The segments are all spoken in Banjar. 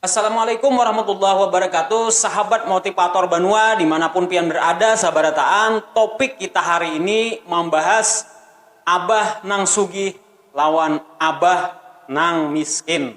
Assalamualaikum warahmatullahi wabarakatuh Sahabat motivator banua dimanapun pian berada sabarataan topik kita hari ini mambahas abah nang sugih lawan abah nang miskin.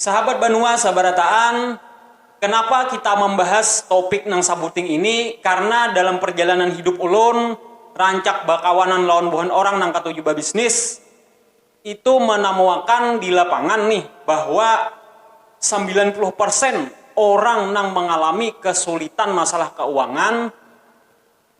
Sahabat Banua sabarataan, kenapa kita mambahas topik nang sabuting ini, karna dalam parjalanan hidup ulun rancak bakawanan lawan buhan orang nang katuju babisnis, itu manamuakan di lapangan nih bahwa sambilan puluh persen orang nang mangalami kasulitan masalah kauangan,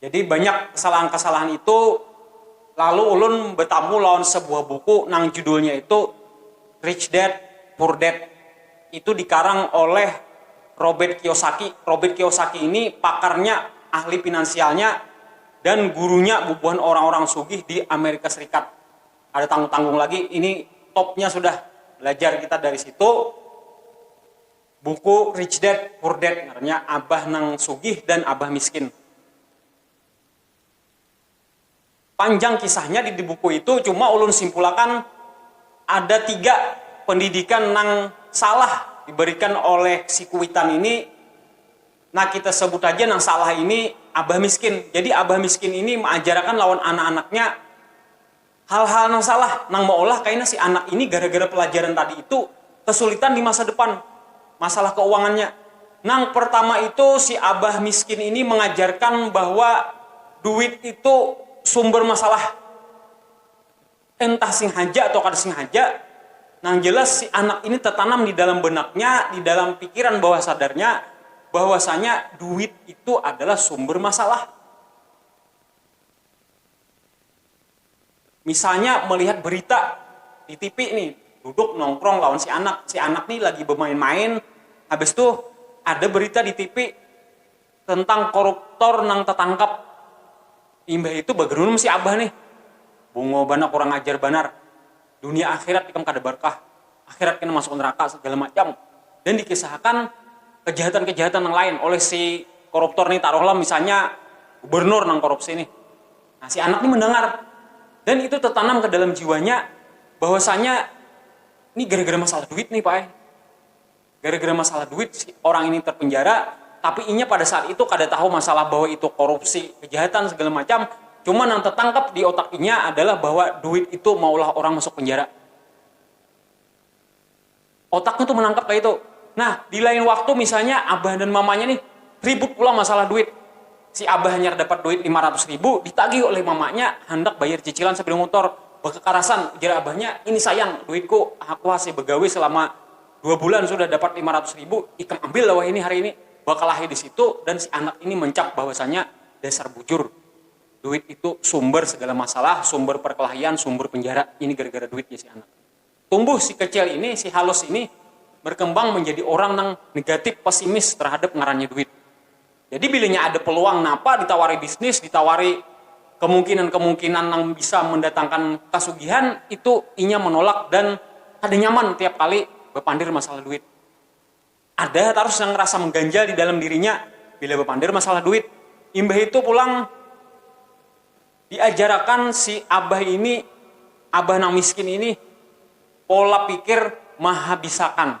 Jadi banyak kesalahan-kesalahan itu lalu ulun betamu lawan sebuah buku nang judulnya itu Rich Dad Poor Dad itu dikarang oleh Robert Kiyosaki, Robert Kiyosaki ini pakarnya ahli finansialnya dan gurunya bubuhan orang-orang sugih di Amerika Serikat kada tanggung-tanggung lagi ini topnya sudah belajar kita dari situ. Buku Rich Dad, Poor Dad ngarannya, Abah nang Sugih dan Abah Miskin. Panjang kisahnya di buku itu, cuma ulun simpulakan ada tiga pendidikan nang salah diberikan oleh si kuitan ini, nah kita sebut haja nang salah ini Abah Miskin. Jadi Abah Miskin ini maajarakan lawan anak-anaknya. Hal-hal nang salah nang maulah kaina si anak ini gara-gara pelajaran tadi itu kesulitan di masa depan masalah keuangannya. Nang pertama itu si abah miskin ini mengajarkan bahwa duit itu sumber masalah entah singhaja atau kada singhaja, nang jelas si anak ini tetanam di dalam benaknya, di dalam pikiran bawah sadarnya bahwasanya duit itu adalah sumber masalah. Misalnya melihat berita di tipi nih, duduk nongkrong lawan si anak, si anak nih lagi bemain-main, habis tuh ada berita di tipi tentang koruptor nang tatangkap, imbah itu bagerunum si abah nih, bungo banar kurang ajar banar. dunia akhirat ikam kada barkah, akhirat kena masuk neraka segala macam dan dikisahakan kejahatan-kejahatan nang lain oleh si koruptor nih taruhlah misalnya gubernur nang korupsi nih nah si anak nih mendengar dan itu tertanam ke dalam jiwanya bahwasanya ini gara-gara masalah duit nih pak eh Gara-gara masalah duit si orang ini terpenjara, tapi inya pada saat itu kada tahu masalah bahwa itu korupsi, kejahatan segala macam, cuma nang tetangkap di otak inya adalah bahwa duit itu maulah orang masuk penjara. Otaknya tu menangkap kaitu. Nah, di lain waktu misalnya abah dan mamanya nih ribut pulang masalah duit, si abah hanyar dapat duit lima ratus ribu ditagih oleh mamanya handak bayar cicilan sapeda motor, bakakarasan ujar abahnya ini sayang duitku aku hasi bagawi selama dua bulan sudah dapat lima ratus ribu, ikam ambil lah wahini hari ini, bakalahi di situ dan si anak ini mencap bahwasanya dasar bujur, duit itu sumber segala masalah, sumber perkelahian, sumber penjara, ini gara-gara duit jar si anak. Tumbuh si kecil ini, si halus ini berkembang menjadi orang nang negatif, pesimis terhadap ngarannya duit. Jadi bilanya ada peluang napa ditawari bisnis, ditawari kemungkinan-kemungkinan nang bisa mendatangkan kasugihan itu inya menolak dan kada nyaman tiap kali bapandir masalah duit. Ada tarus nang rasa mengganjal di dalam dirinya bila bapandir masalah duit. Imbah itu pulang diajarakan si abah ini, abah nang miskin ini pola pikir mahabisakan.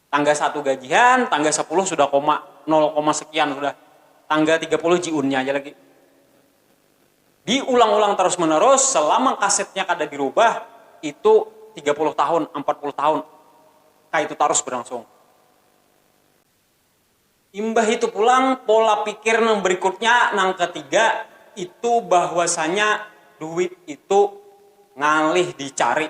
Tangga satu gajihan, tangga sapuluh sudah koma nol koma sekian sudah, tangga tiga puluh jiunnya aja lagi. Diulang-ulang tarus menerus selama kasetnya kada dirubah itu tiga puluh tahun, ampat puluh tahun kaitu tarus berlangsung. Imbah itu pulang pola pikir nang berikutnya nang ketiga itu bahwasanya duit itu ngalih dicari.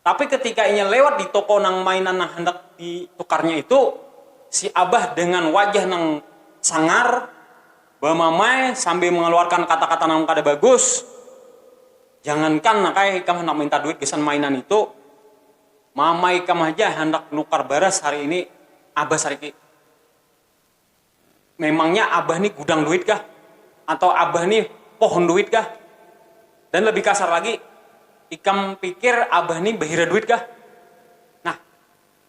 Tapi ketika inya lewat di toko nang mainan nang handak ditukarnya itu, si abah dengan wajah nang sangar bamamai sambil mengeluarkan kata-kata nang kada bagus, Jangankan nak ai ikam handak minta duit gasan mainan itu, mama ikam haja handak nukar baras hari ini, abah sariki. Memangnya abah ni gudang duit kah? Atau abah ni pohon duit kah? Dan lebih kasar lagi, ikam pikir abah ni bahira duit kah? Nah,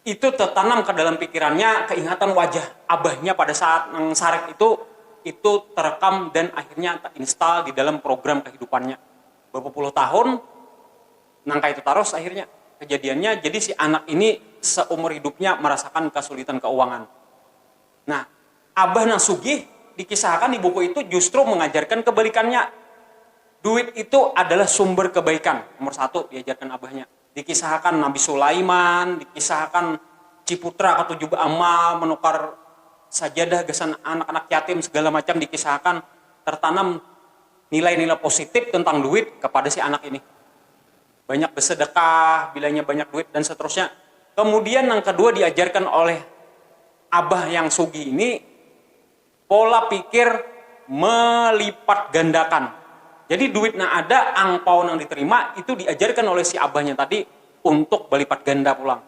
itu tertanam ka dalam pikirannya keingatan wajah abahnya pada saat nang sarik itu, itu terekam dan akhirnya terinstall di dalam program kehidupannya. Berapa puluh tahun Nang kaya itu tarus akhirnya kejadiannya, jadi si anak ini seumur hidupnya merasakan kesulitan keuangan. Nah, abah nang sugih dikisahkan di buku itu justru mengajarkan kebalikannya, duit itu adalah sumber kebaikan nomor satu diajarkan abahnya. Dikisahkan Nabi Sulaiman, dikisahkan Ciputra ketujuh beramal menukar sajadah gasan anak-anak yatim segala macam dikisahkan tertanam. Nilai-nilai positif tentang duit kepada si anak ini. Banyak besedekah, bilanya banyak duit dan seterusnya. Kemudian nang kedua diajarkan oleh abah yang sugih ini pola pikir melipat gandakan. Jadi duit nang ada, angpau nang diterima itu diajarkan oleh si abahnya tadi untuk belipat ganda pulang.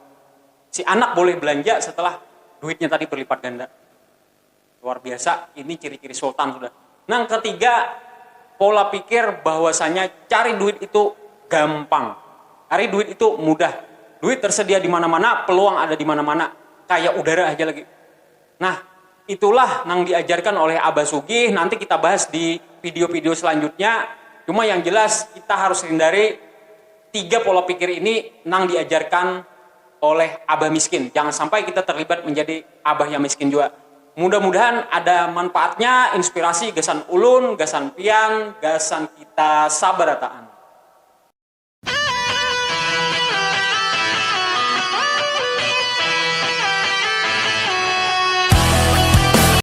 Si anak boleh belanja setelah duitnya tadi berlipat ganda. Luar biasa, ini ciri-ciri sultan sudah. Nang ketiga, pola pikir bahwasanya cari duit itu gampang. Cari duit itu mudah. Duit tersedia di mana-mana, peluang ada di mana-mana. Kayak udara aja lagi. Nah, itulah nang diajarkan oleh Abah Sugih, nanti kita bahas di video-video selanjutnya. Cuma yang jelas kita harus hindari tiga pola pikir ini nang diajarkan oleh abah miskin jangan sampai kita terlibat menjadi abah yang miskin jua mudah-mudahan ada manpaatnya inspirasi gasan ulun gasan pian gasan kita sabarataan.